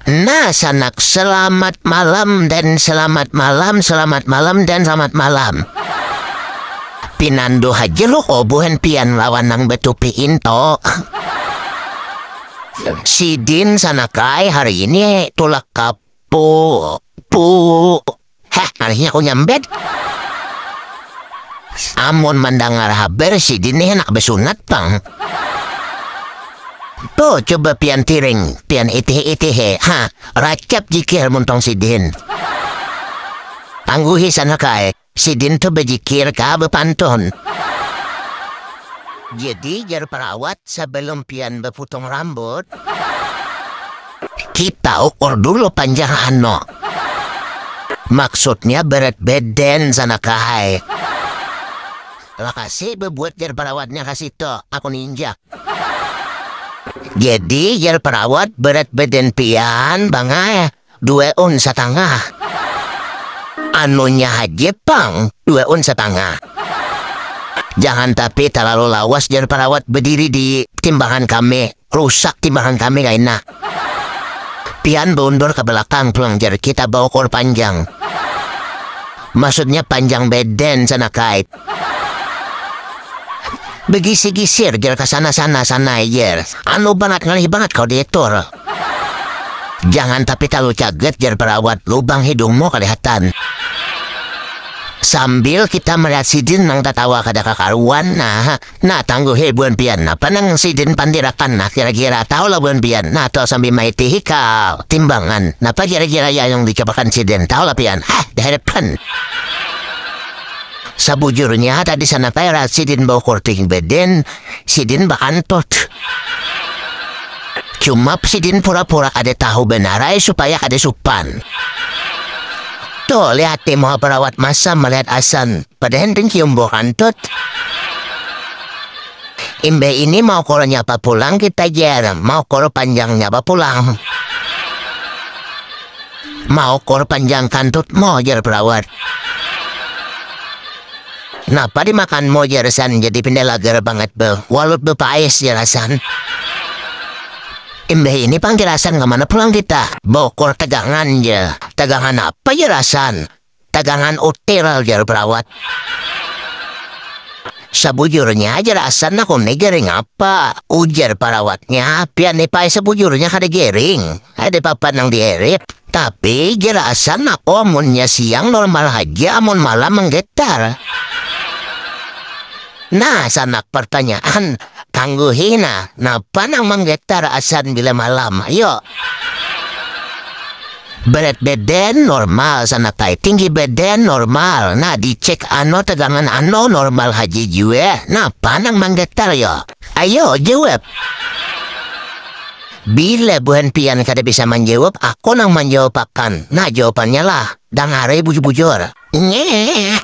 Nah sanak, selamat malam dan selamat malam, selamat malam dan selamat malam. Pinandu haja lu ko buhan pian lawan nang batupi into. Sidin sanak ai hari ini tulak ka pu pu. Heh, ngalihnya aku nyambet. Amun mandangar habar sidin nih handak basunat pang. Tuh, coba pian tiring, pian itih-itihi, ha, racap jikir mun tong sidin. Tangguhi sana ka ai, sidin tuh bajikir ka bapantun. Jadi jar parawat, sabalum pian baputong rambut. Kita ukur dulu panjang ano. Maksudnya berat badan sana kahai. Makasih bebuat jar perawatnya ka situ, aku ninjak. Jadi jar perawat berat badan pian pangai dua un satangah. Anunya haja pang dua un satangah. Jangan tapi terlalu lawas jar perawat bediri di timbangan kami. Rusak timahan kami kaina. Pian baundur ka balakang pulang jar kita baukur panjang. Maksudnya panjang beden sana kait. Begisir-gisir jar ka sana sana sanai jar. Anu bangat ngalih bangat kau diatur. Jangan tapi talu caget jar perawat lubang hidungmu kalihatan. Sambil kita melihat sidin nang tatawa kada kakaruan nah. Nah, tangguhi buhan pian, napa nang Sidin pandirakan? Nah, kira-kira tahulah buhan pian? Nah, to sambil maiti hikal, timbangan, napa kira-kira yang diucapakan Sidin? Tahulah pian? Hah, dihadapkan. Sabujurnya, tadi sanapa era Sidin baukur ting bedin, Sidin bakantut. Cuma Sidin pura-pura kada tahu banar ai supaya kada supan. Tuh, lihat nih muha perawat masam melihat Hasan. Kada henteng cium bau kantut. Imbah ini mau kolo nyapa pulang kita jar, mau kolo panjang nyapa pulang. Mau kolo panjang kantut mo jar perawat. Napa dimakan mo jar Hasan jadi pindah lagar banget beuh, walut beuh paes jar Hasan. Imbah ini panggil Hasan kemana pulang kita, bau kolo tegangan jar. Tegangan apa jar Hasan. Dagangan hotel, jar perawat. Sabujurnya aja rasa nah kau nih garing apa, ujar perawatnya, pian nih pai sabujurnya kada garing, ada papan nang dihirit, tapi ja rasa nah ko amunnya siang normal haja amun malam menggetar. Nah sanak pertanyaan, tangguhi nah, napa nang menggetar asan bila malam, ayo. Berat badan normal sanatai tinggi badan normal nah di cek ano tegangan ano normal haja jua napa nang manggatal yo ayo jawab bila buhan pian kada bisa manjawab aku nang manjawab akan nah jawabannya lah dangari bujur bujur nyeeeek.